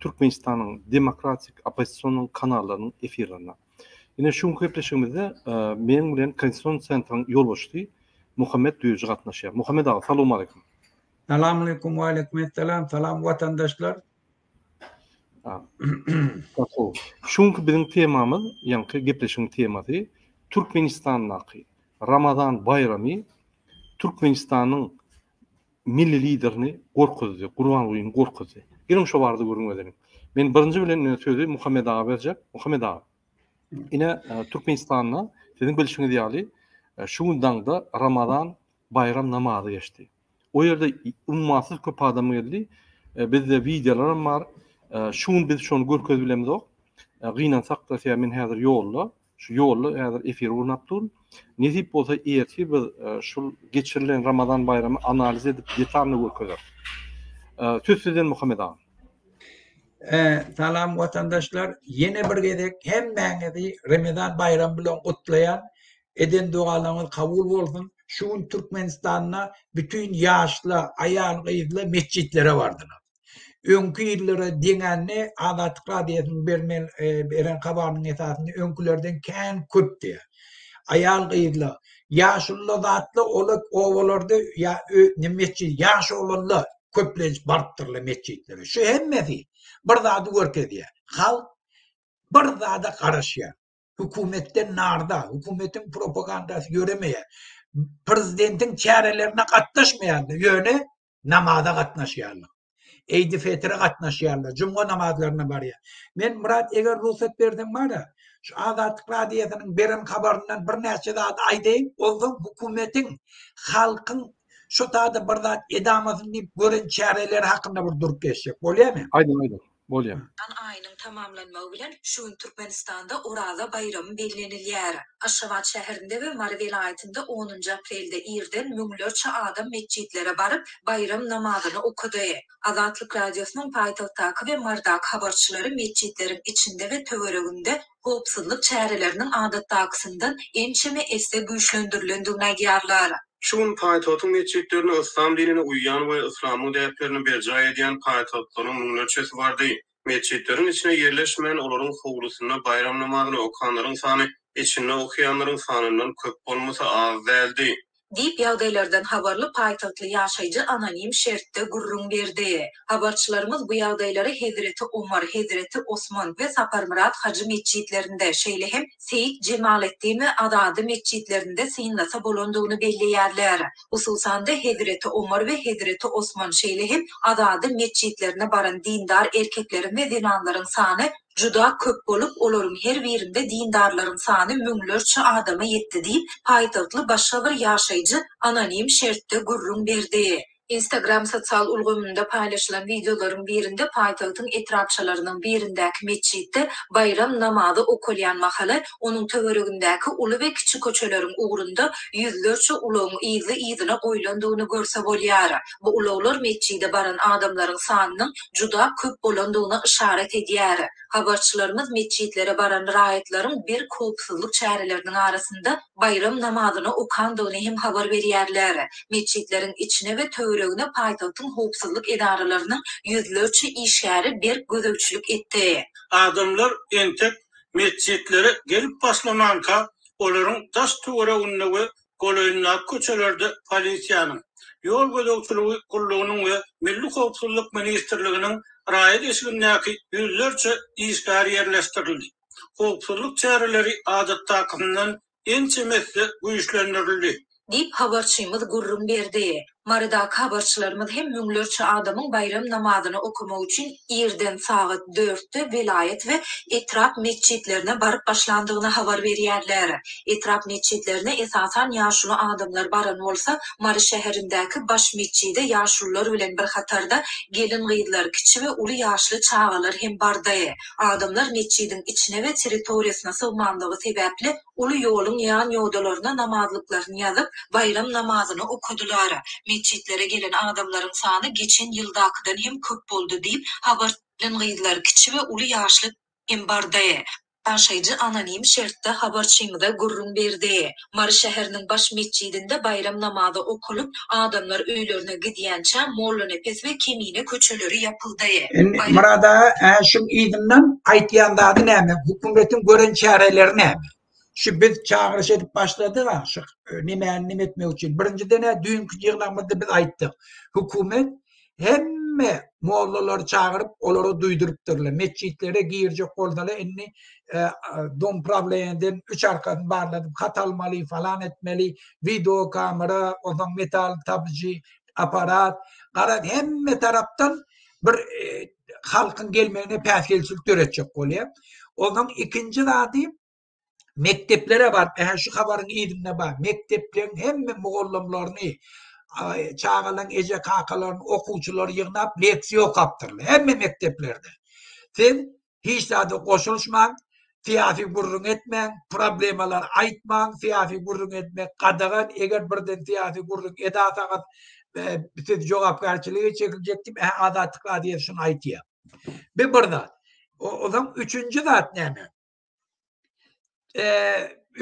Türkmenistanyň demokratik oppozisionyň kanallarynyň efirlerine. Ine şu günki gepleşigimizde meniň bilen Konstitusion Centryň ýolbaşçysy Muhammet Düýeji gatnaşýar. Muhammet aga, salowmaleýkum. Salamaleýkum, waleýkumessalam, salam watandaşlar. Şu günki biziň temamyz, ýaňky gepleşigiň temasy Türkmenistandaky Ramazan baýramy Türkmenistanyň Milli Liderini gorkuzdy, Gurbangulyny gorkuzdy. Geliň şo barada gürrüň edeliň. Men birinji bilen ine sözi Muhammet aga berjek. Muhammet aga, ine Türkmenistanda siziň bilşiňiz ýaly şu gün daňda Ramazan baýram namazy geçdi. O ýerde ummasyz köp adam geldi. Bizde wideolaram bar. Şu gün biz şony görkezip bilemizok. Gynansak-da, sebäbi men häzir ýolda. Şu ýolda häzir efir gurnap dur. Nesip bolsa ertir biz şul geçirilen Ramazan baýramy analiz edip detalny görkezeris. Söz sizden Muhammet aga. Salam watandaşlar. Ýene bir gezek hemmäňizi Remezan baýramy bilen gutlaýan. Eden dogalaryňyz kabul bolsun. Şu gün Türkmenistanda bütin ýaşla, aýal-gyzla metjitlere bardylar. Öňki ýyllara deňände Azatlyk Radiosynyň berlen beren habarynyň esasynda öňkülerden kän köp diýýär. Aýal-gyzlar, ýaşulylar zatlar ol obalarda ýa mesjid ýaş oglanlar köplenç barypdyrlar mesjidlere. Şu hemmesi bir zady görkezýär. Halk bir zada garaşýar. Hökümetden narda, hökümetiň propagandasy ýöremeýär. Prezidentiň çärelerine gatnaşmaýarlar. Ýöne namaza gatnaşýarlar. Eýdi fetre gatnaşýarlar, juma namazlaryna barýar. Men Myrat eger rugsat berseň bar-a, şu Azatlyk radiosynyň beren habaryndan birnäçe zat aýdaýyn, onsoň hökümetiň, halkyň şu taýda bir zat edamasyny diýip gören çäreleri hakynda bir durup geçsek bolýarmy? Aýdyň, aýdyň. Bolýar. Ramazan aýynyň tamamlanmagy bilen şu gün Türkmenistanda Oraza baýramy bellenilýär. Aşgabat şäherinde we Mary welaýatynda onunjy aprelde irden müňlerçe adam metjitlere baryp, baýram namazyny okady. Azatlyk Radiosynyň paýtagtdaky we Marydaky habarçylary metjitleriň içinde we töwereginde howpsuzlyk çäreleriniň adatdakysyndan ençeme esse güýçlendirilendigini aýdýarlar. Şu gün paýtagtyň metjitlerinde yslam dinine uýýan we yslamyň däplerini berjaý edýän paýtagtlylaryň müňlerçesi bardy. Metjitleriň içine ýerleşmän, olaryň howlusynda baýram namazyny okanlaryň sany içinde okaýanlaryň sanyndan köp bolmasa az däldi. diýip, ýagdaýlardan habarly paýtagtly ýaşaýjy anonim şertde gürrüň berdi. Habarçylarymyz bu ýagdaýlary Hezreti Omar, Hezreti Osman we Saparmyrat hajy metjitlerinde, şeýle hem Seýit Jemaleddin we Azady metjitlerinde synlasa bolandygyny belleýärler. Hususan-da, Hezreti Omar we Hezreti Osman, şeýle hem Azady metjitlerine baran dindar erkekleriň we zenanlaryň sany juda köp bolup, olaryň her birinde dindarlaryň sany müňlerçe adama ýetdi diýip, paýtagtly başga bir ýaşaýjy anonim şertde gürrüň berdi. Instagram sosial ulgamynda paýlaşylan wideolaryň birinde paýtagtyň etrapçalarynyň birindäki metjitde baýram namazy okalýan mahaly, onuň töweregindäki uly we kiçi köçeleriň ugrunda ýüzlerçe ulagyň yzly-yzyna goýlandygyny görse bolýar. Bu ulaglar metjide baran adamlaryň sanynyň juda köp bolandygyna yşarat edýär. Habarçylarymyz metjitlere baran raýatlaryň berk howpsuzlyk çäreleriniň arasynda baýram namazyny okandygyny hem habar berýärler. Metjitleriň içine we töweregine paýtagtyň howpsuzlyk edaralarynyň ýüzlerçe işgäri berk gözegçilik etdi. Adamlar entek metjitlere gelip başlamanka, olaryň daş-töwereginde we golaýyndaky köçelerde polisiýanyň, ýol gözegçiligi gullugynyň we Milli howpsuzlyk ministrliginiň raýat eşigindäki ýüzlerçe işgär ýerleşdirildi. Howpsuzlyk çäreleri adatdakysyndan ençeme esse güýçlendirildi. Diýip, habarçymyz gürrüň berdi. Marydaky habarçylarymyz hem müňlerçe adamyň baýram namazyny okamak üçin irden sagat dörtde welaýat we etrap metjitlerine baryp başlandygyny habar berýärler. Etrap metjitlerine esasan ýaşuly adamlar baran bolsa, Mary şäherindäki baş metjide ýaşulular bilen bir hatarda gelin-gyzlar, kiçi we uly ýaşly çagalar hem bardy. Adamlar metjidiň içine we territoriýasyna sygmanlygy sebäpli, Uly ýoluň ýan ýodalaryna namazlyklaryny ýazyp, baýram namazyny okadylar. Metjitlere gelen adamlaryň sany geçen ýyldakydan hem köp boldy diýip, habar. Gelin-gyzlar, kiçi we uly ýaşly hem bardy. Ýaşaýjy anonim şertde habarçymyza gürrüň berdi. Mary şäheriniň baş metjidinde baýram namazy okalyp, Adamlar öýlerine gidýänçä Mollanepes we Kemine köçeleri ýapyldy. Indi Myrat aga, ä şuň yzyndan aýtýan zady näme? Hökümetiň gören çäreleri näme? Şu biz çagyryş edip başladyk-a şu nemäni neme etmek üçin. Birinjiden-ä düýnki ýygnagymyzda biz aýtdyk. Hökümet hemme mollalary çagyryp, olara duýdurypdyrlar. Metjitlere girjek bolsalar, indi e, dom prawleniýeden üç arkasyny barladyp, hat almaly, falan etmeli, video kamera, onsoň metal tabyjy, apparat. Garaz, hemme tarapdan bir e, halkyň gelmegine päsgelçilik döretjek bolýar. Ondan ikinji zady mekdeplere baryp, ähli şu habaryň yzynda bar, mekdepleriň hemme mugallymlaryny, çagalaryň eje-kakalaryny, okuwçylary ýygnap, leksiýa okapdyrlar. Hemme mekdeplerde. Siz hiç zada goşulyşmaň, syýasy gürrüň etmäň, problemalar aýtmaň, syýasy gürrüň etmek gadagan, eger birden syýasy gürrüň edasaňyz, e, siz jogapkärçilige çekiljek diýip, ähli Azatlyk Radiosyna aýtýar. Bu bir zat. Ondan üçünji zat näme?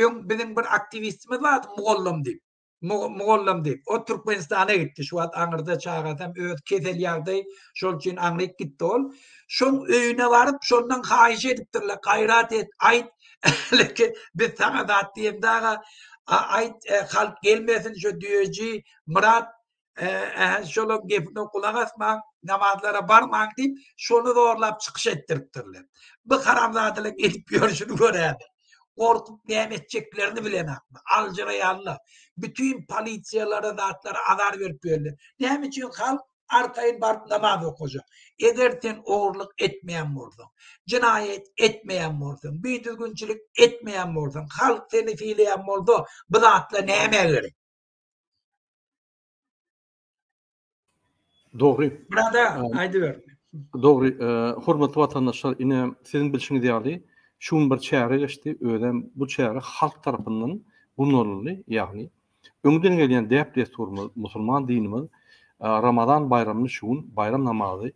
öň biziň bir aktiwistimiz bardy mugallym diýip. Mugallym diýip. O Türkmenistana gitdi. Şu wagt aňyrda çagasam öz kesel ýagdaý şol üçin aňryk gitdi ol. Şoň öýüne baryp, şondan haýyş edipdirler, gaýrat et, aýt, leke biz saňa zat diýemde aga, aýt, halk gelmesin şu düýeji Myrat ähli şolaryň gepine gulak asmaň, namazlara barmaň diýip, şony zorlap çykyş etdiripdirler. Bu haramzadalaryň edip ýörşüni göräýmäň. Gorkup näme etjeklerini bilenokmy? Aljyraýanlar. Bütin polisiýalara zatlara azar berip ýörler. Näme üçin halk arkaýyn baryp namaz okajak? Eger sen ogurlyk etmeýän bolsaň, jenaýat etmeýän bolsaň, bidüzgünçilik etmeýän bolsaň, halk seni sylaýan bolsa, bu zatlar nämä gerek? Dogry. Burada aýdyber. Dogry, e, hormatly watandaşlar, ine siziň bilşiňiz ýaly, şu gün bir çäre geçdi, özem bu çäre halk tarapyndan gurnalyldy, ýagny öňden gelýän däp-dessurymyz, musulman dinimiz e, Ramazan baýramyny şu gün baýram namazy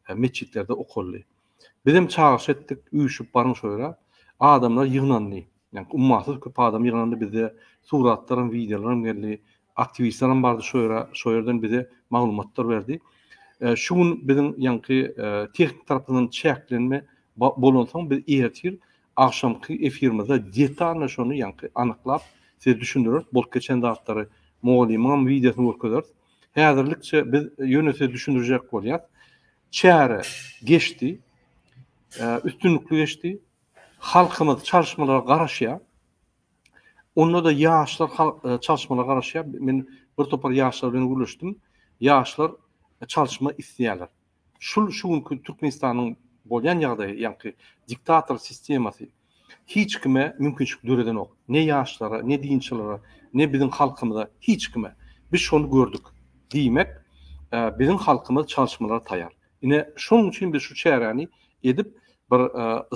e, metjitlerde okaldy. Bizem çagyryş etdik, üýşüp baryň şo ýere. Adamlar ýygnandy. Ýani ummasyz köp adam ýygnandy. Bizde suratlaram, wideolaram geldi. Aktiwistlerem bardy şo ýere. Şo ýerden bize maglumatlar berdi. Şu gün biziň ýaňky tehnik tarapyndan çäklenme bolansoň biz ertir agşamky efirimizde detalnyý şony ýaňky anyklap size düşündireris. Bolup geçen zatlary mugallymyňam wideosyny görkezeris. Häzirlikçe biz ýöne size düşündirjek bolýas. Çäre geçdi. Üstünlikli geçdi. Halkymyz çalyşmalara garaşýar. Onda-da ýaşlar çalyşmalara garaşýar. Men bir topar ýaşlar bilen gürleşdim. Ýaşlar çalyşma isleýärler. Şul şu günki Türkmenistanyň bolýan ýagdaýy, ýagny diktator sistemasy, Hiç kime mümkinçilik döredenok. Ne ýaşlara, ne dinçilara, ne biziň halkymyza, hiç kime. Biz şony gördük. Diýmek, biziň halkymyz çalyşmalara taýar. Ine, şonuň üçin biz şu çäräni edip, bir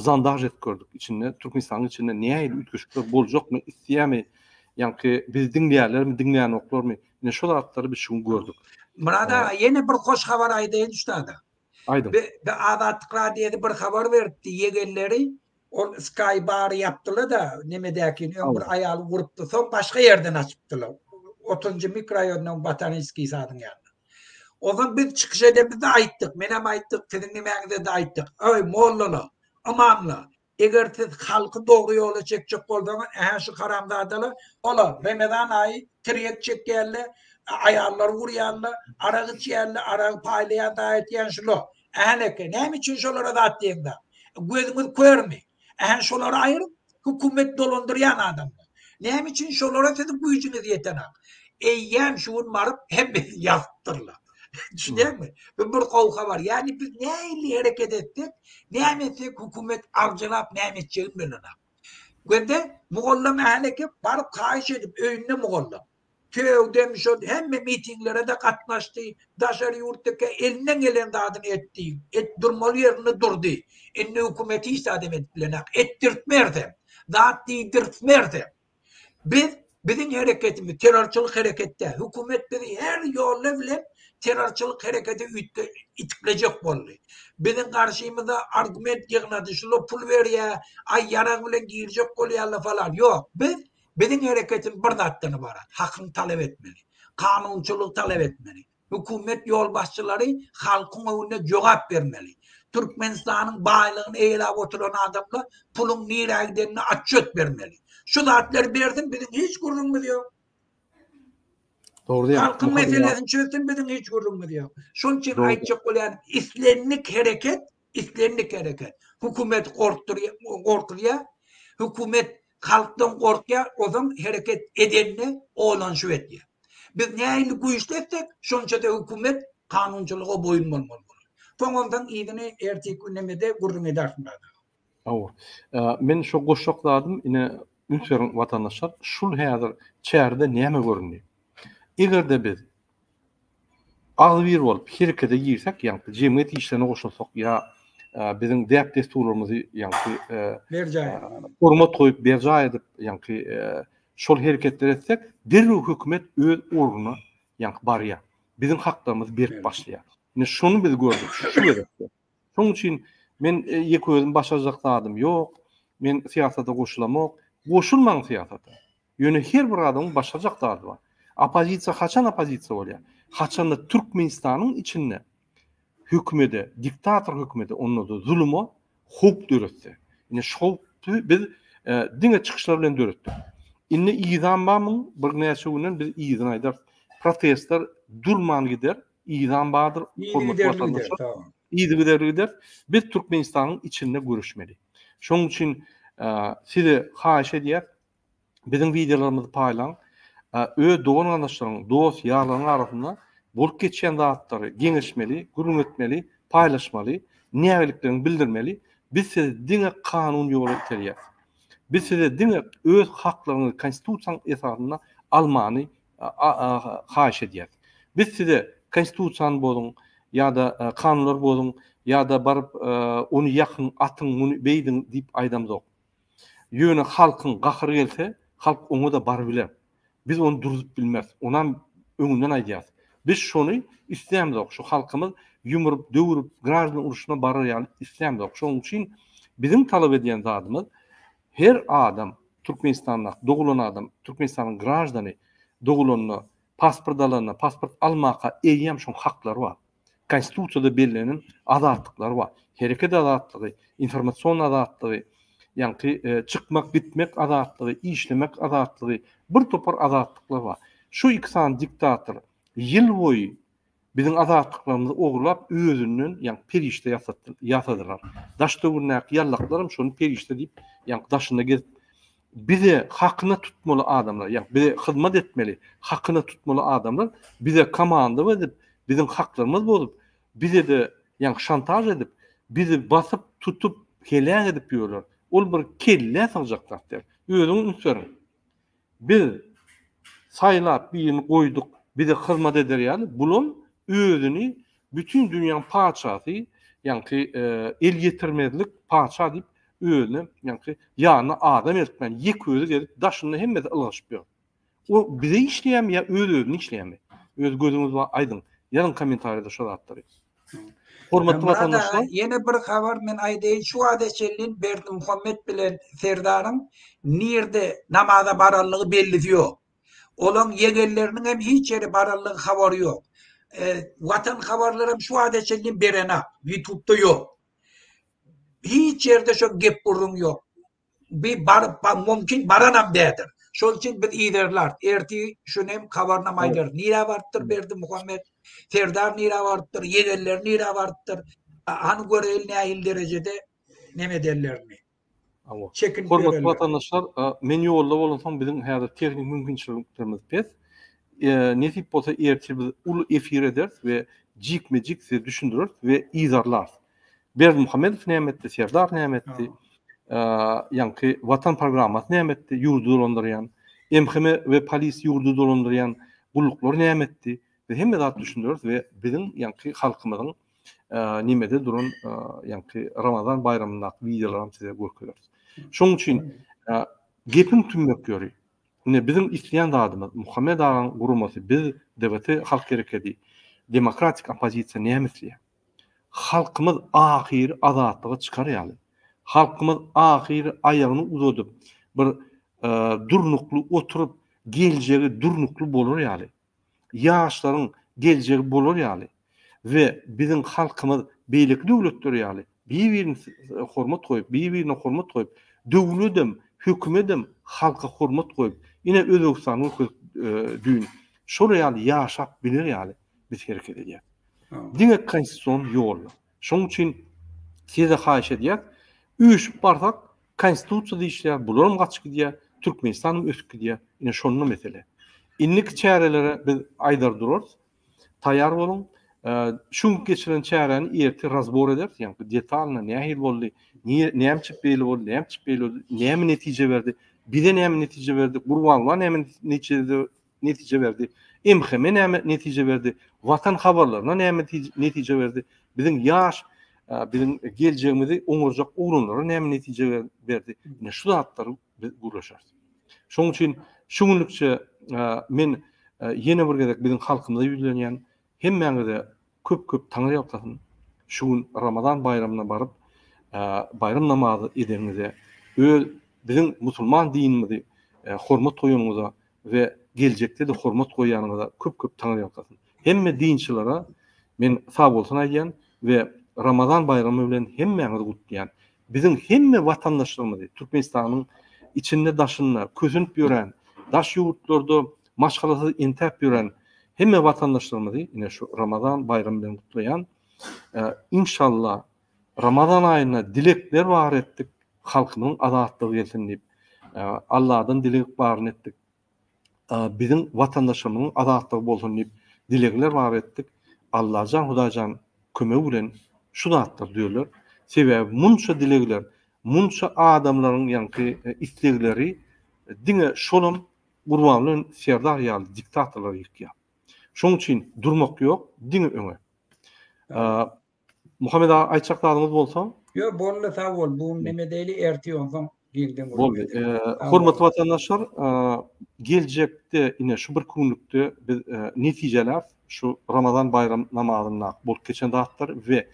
zandaž edip gördük. Içinde, Türkmenistanyň içinde nähili üýtgeşikler boljakmy, isleýärmi, ýaňky bizi diňleýärlermi, diňleýänoklarmy, ine, şol zatlary biz şu gün gördük. Myrat aga, ýene bir hoş habar aýdaýyn şu taýda. Aýdyň. Be, Azatlyk Radiosy bir habar beripdi, ýegenleri ol Sky Bar-y ýapdyla-da, nemedäkin, öň bir aýal ugurupdy, soň başga ýerden açypdylar. Otuzynjy mikroýonuň Botaniskiý sadyň ýanynda. Onsoň biz çykyş edemizde aýtdyk, menem aýtdyk, siziň nimäňize-de aýtdyk. Eý, mollalar, ymamlar, Eger siz halky dogry ýola çekjek bolsaňyz, ähä şu haramzadalar, olar Remezan aýy tirýek çekýärler, aýallary gurýarlar, arak içýärler, aragy paýlaýar zaýa etýän şular. Ählekä, näme üçin şolara zat diýeňzok? Gözüňiz körmi? Ähä şolary aýryň, hökümet dolandyrýan adamlar. Näme üçin şolara siziň güýjüňiz ýetenak? Eýýäm şu gün baryp hemmesini ýazypdyrlar. Düşünýäňmi? Bu bir gowy habar. Ýagny biz nähili hereket etsek, näme etsek hökümet arjalap näme etjegini bilenok. Göde mugallym häleki baryp haýyş edip öýünde mugallym. Söýdüm şol hemme mitinglere-de gatnaşdy, daşary ýurtdaky elinden gelen zadyny etdi, et durmaly ýerinde durdy. Indi hökümet hiç zadam edip bilenok. Etdirtmersem, zat diýdirtmersem. Biz biziň hereketimiz terrorçylyk hereket däl. Hökümet bizi her ýolla bilen terrorçylyk herekete üýtge itiklejek boldy. Biziň garşymyza argument ýygnady, şular pul berýä, aý ýarag bilen girjek bolýarlar falan. Ýok, biz biziň hereketimiz bir zatdan ybarat, hakyň talap etmeli, kanunçylygy talap etmeli. Hökümet ýolbaşçylary halkyň öňünde jogap bermeli. Türkmenistanyň baýlygyny eýeläp oturan adamlar puluň nirä gidenine atçet bermeli. Şu zatlary bersin biziň hiç gürrüňimiz ýok. Halkyň meselesini çözsün biziň hiç gürrüňimiz ýok. Şonuň üçin aýtjak bolýan islendik hereket Islendik hereket hökümeti gorkuzýar, hökümet halkdan gorkýar, ozan hereket edende olanyşyp etýär. Biz nähili güýçli etsek, şonça-da hökümet kanunçylyga boýun bolmaly bolar. Soňansoň yzyny erteki günemede gürrüň edersiň dagy. Hawa. Men şo goşjak zadym, ine, üns beriň watandaşlar, şul häzir çärede näme göründi? Eger-de biz agzybir bolup herekete girsek, ýagny jemgyýet işlerine goşulsak ýa biziň däp-dessurlarymyzy ýagny berjaý hormat goýup berjaý edip ýagny şol hereketleri etsek, derrew hökümet öz ornuna ýagny barýar. Biziň haklarymyz berip başlaýar. Ine şony biz gördük şu gezekde. Şonuň üçin men ýeke özüm başarjak zadym ýok. Men syýasata goşulamok. Goşulmaň syýasata. Ýöne her bir adamyň başarjak zady bar. Oppozisiýa haçan oppozisiýa bolýar? Haçanda Türkmenistanyň içinde hökümede, diktator hökümede, onda-da zuluma howp döretse. Ine şu howpy biz diňe çykyşlar bilen döretdik. Indi yzam bar muň, birnäçe günden biz yzyny aýdarys. Protestler durman gider, yzam bardyr, hormatly watandaşlar. Yzygiderli gider. Biz Türkmenistanyň içinde göreşmeli. Şonuň üçin size haýyş edýäs, Biziň wideolarymyzy paýlaň. Öz dogan-garyndaşlaryň, dost, ýarlaryň arasynda bolup geçýän zatlary geňeşmeli, gürrüň etmeli, paýlaşmaly, nägiliklerini bildirmeli. Biz sizi diňe kanun ýoly iterýäs. Biz size diňe öz haklaryňyzy konstitusiýaň esasynda almany haýyş edýäs. Biz size konstitusiýany bozuň ýa-da kanunlary bozuň ýa-da baryp ony ýakyň, atyň, muny beýdiň diýip aýdamzok. Ýöne halkyň gahyry gelse, halk oňa-da baryp biler. Biz ony duruzyp bilmeris. Onam öňünden aýdýarys. Biz şony islämzok, şu halkymyz ýumrup, döwrüp, graždan urşuna barar ýaly islämzok. Şonuň üçin biziň talap edýän zadymyz, her adam, Türkmenistanda dogulan adam, Türkmenistanyň graždany dogulanda, pasport alanda, pasport almaka eýýäm şoň haklary bar. Konstitusiýada bellenen azatlyklar bar. Hereket azatlygy, informasion azatlygy, ýagny çykmak, gitmek azatlygy, işlemek azatlygy, bir topar azatlyklar bar. Şu iki sany diktator ýyl boýy biziň azatlyklarymyzy ogurlap, özünden, ýagny perişde ýasadylar. Daş döwründäki ýallaklaram şony perişde diýip, ýagny daşynda gezip, bize hakyna tutmaly adamlar, ýa bize hyzmat etmeli, hakyna tutmaly adamlar bize komanda berip, biziň haklarymyz bozup, bize-de ýa şantaž edip, bizi basyp, tutup, heläk edip ýörler. Ol bir kellä sygjak zat däl. Özüňiz üns beriň. Biz saýlap birini goýduk, bize hyzmat eder ýaly, bulam özüni Bütin dünýäň patyşasy, ýaňky elýetirmezlik patyşa diýip özüne, ýaňky ýanyna adam eltmän ýek özi gezip daşynda hemmesi ylgaşyp ýör. O bize işleýärmi ýa öz özüne işleýärmi? Öz gözüňiz bar aýdyň. Ýazyň kommentariýada şu zatlary. Hormatly watandaşlar. Ýene bir habar men aýdaýyn şu wagta çenli Berdimuhamet bilen Serdaryň nirde namaza baranlygy bellisi ýok. Olaň ýegenleriniň hem hiç ýere baranlygy habary ýok. Watan habarlar hem şu wagta çenli berenak. Ýutubda ýok. Hiç ýerde şo gep gürrüň ýok. Bi baryp ba mumkin baranam dädir. Şol üçin biz yzarlar. Erti şuny hem habarynam aýdarys. Nirä barypdyr Berdi Muhammet? Serdar nirä barypdyr? Ýegenleri nirä barypdyr? Hany göreýeli nähili derejede neme edenlerini. Hormatly watandaşlar, men ýolda bolansoň biziň häzir tehnik mümkinçiliklerimiz pes. Nesip bolsa ertir biz uly efir ederis we jikme-jik size düşündireris we yzarlarys. Berdimuhamedow näme etdi, Serdar näme etdi, ýaňky Watan programmasy näme etdi, ýurdy dolandyrýan, MHM we polis ýurdy dolandyrýan gulluklar näme etdi, biz hemme zat düşündireris we biziň ýaňky halkymyzyň nimede duran ýaňky Ramazan baýramyndaky wideolaram size görkezeris. Şoň üçin gepiň tümmek ýöri. Ine biziň isleýän zadymyz Muhammet agaň guramasy biz DBT halk herekedi demokratik oppozisiýa näme isleýär? Halkymyz ahyry azatlyga çykar ýaly. Halkymyz ahyry aýagyny uzadyp bir durnukly oturyp geljegi durnukly bolar ýaly. ýaşlaryň geljegi bolar ýaly we biziň halkymyz beýleki döwletler ýaly bir-birini hormat goýup, bir-birine hormat goýup, döwledem, hökümedem halka hormat goýup, ine Özbegistany görkezip düýn, şol ýaly ýaşap biler ýaly biz hereket edýäris. Diňe konstitusion ýolla. Şonuň üçin size haýyş edýäs, üýşüp barsak, konstitusiýa diýişýär, bularam gaçyp gidýär, Türkmenistanam ösüp gidýär. Ine şonda mesele. Indiki çärelere biz aýdar durarys. Taýar boluň. Şu gün geçiren çäräni ertir razbor ederis, ýagny detalna nähili boldy, näme üçin beýle boldy, näme üçin beýle boldy, näme netije berdi, bize näme netije berdi, Gurbanguly'a näme netije netije berdi, MHM-e näme netije berdi, Watan habarlaryna näme netije berdi, biziň ýaş, biziň geljegimizi oňarjak oglanlara näme netije berdi, ine şu zatlary biz gürleşeris. Şonuň üçin şu günlükçe men ýene bir gezek biziň halkymyza ýüzlenýän, Hemmäňize köp köp taňyrýalkasyn şu gün Ramazan baýramyna baryp baýram namazy edeniňize öz biziň musulman dinimizi hormat goýanyňyza we geljekde-de hormat goýýanyňyza köp köp taňyrýalkasyn. Hemme dinçilere men sag bolsun aýdýan we Ramazan baýramy bilen hemmäňizi gutlaýan. Biziň hemme watandaşlarymyzy Türkmenistanyň içinde daşynda kösenip ýören daş ýurtlarda maşgalasyz intäp ýören hemme watandaşlarymyzy ine şu Ramazan baýramy bilen gutlaýan. Inşallah Ramazan aýynda dilekler bar etdik, halkymyzyň azatlygy gelsin diýip, Alladan dileg baryny etdik. Biziň watandaşlarymyzyň azatlygy bolsun diýip dilegler bar etdik. Allajan Hudaýjan kömegi bilen şu zatlar düzeler. Sebäbi munça dilegler, munça adamlaryň ýaňky islegleri diňe şolam Gurban bilen Serdar ýaly diktatorlary ýykýar. Şoň üçin durmak ýok, diňe öňe. Muhammet aga aýtjak zadyňyz bolsa? Ýok, boldy, sag bol. Bu näme diýeli, ertir onsoň giňden Boldy. Hormatly watandaşlar, geljekde ine şu bir günlükde biz netijeläp, şu Ramazan baýram namazynda bolup geçen zatlar we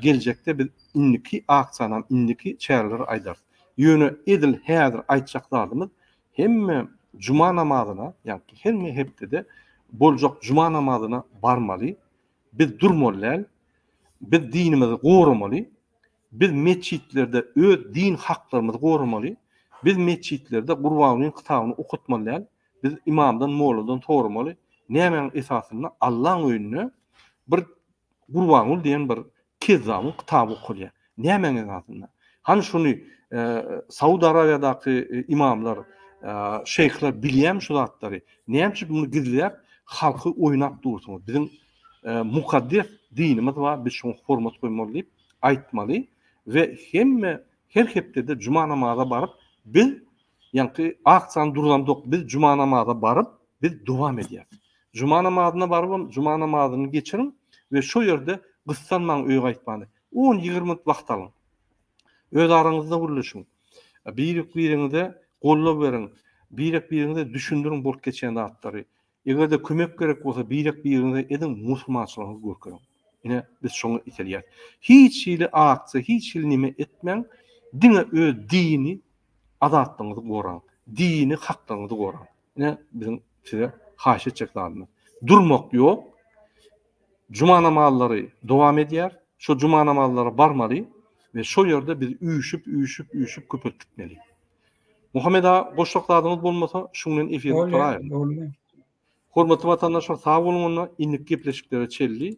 geljekde biz indiki aksiýany, indiki çäreleri aýdarys. Ýöne edil häzir aýtjak zadymyz Hemme juma namazyna, ýa-da hemme hepdede boljak juma namazyna barmaly. Biz durmaly däl. Biz dinimizi goramaly. Biz metjitlerde öz din haklarymyzy goramaly. Biz metjitlerde Gurbangulyň kitabyny okatmaly däl. Biz ymamdan, molladan soramaly, nämäň esasynda Allaň öýünde bir Gurbanguly diýen bir kezzabyň kitaby okalýar. Nämäň esasynda? Hany şuny Saud Arabiýadaky imamlar, şeýhler bilýärmi şu zatlary? Näme üçin muny gizläp, halky oýnap dursuňyz? Biziň mukaddes dinimiz bar, biz şoňa hormat goýmaly diýip aýtmaly we hemme her hepdede juma namaza baryp, biz ýaňky aksiýany durzandok, biz juma namaza baryp, biz dowam edýäris. Juma namazyna barybam juma namazyny geçiriň we şo ýerde gyssanmaň öýe gaýtmany. On-ýigrimi minut wagt alyň. Öz araňyzda gürleşiň. Birek-bireňize goldaw beriň. Birek-bireňize düşündiriň bolup geçýän zatlary. Eger-de kömek gerek bolsa birek-bireňize ediň, musulmançylygyňyzy görkeziň. Ine, biz şoňa itelýär. Hiç hili aksiýa, hiç hili neme etmäň, diňe öz dini azatlygyňyzy goraň, dini haklygyňyzy goraň. Ne biziň size haýyş etjek zadymyz. Durmak ýok. Juma namazlary dowam edýär. Şo juma namazlara barmaly we şo ýerde biz üýşüp, üýşüp, üýşüp köpelip gitmeli. Muhammed aga goşjak zadyňyz bolmasa, şu bilen efiri gutaraýaly. Hormatly watandaşlar, sag boluň onda, indik gepleşiklere çelli.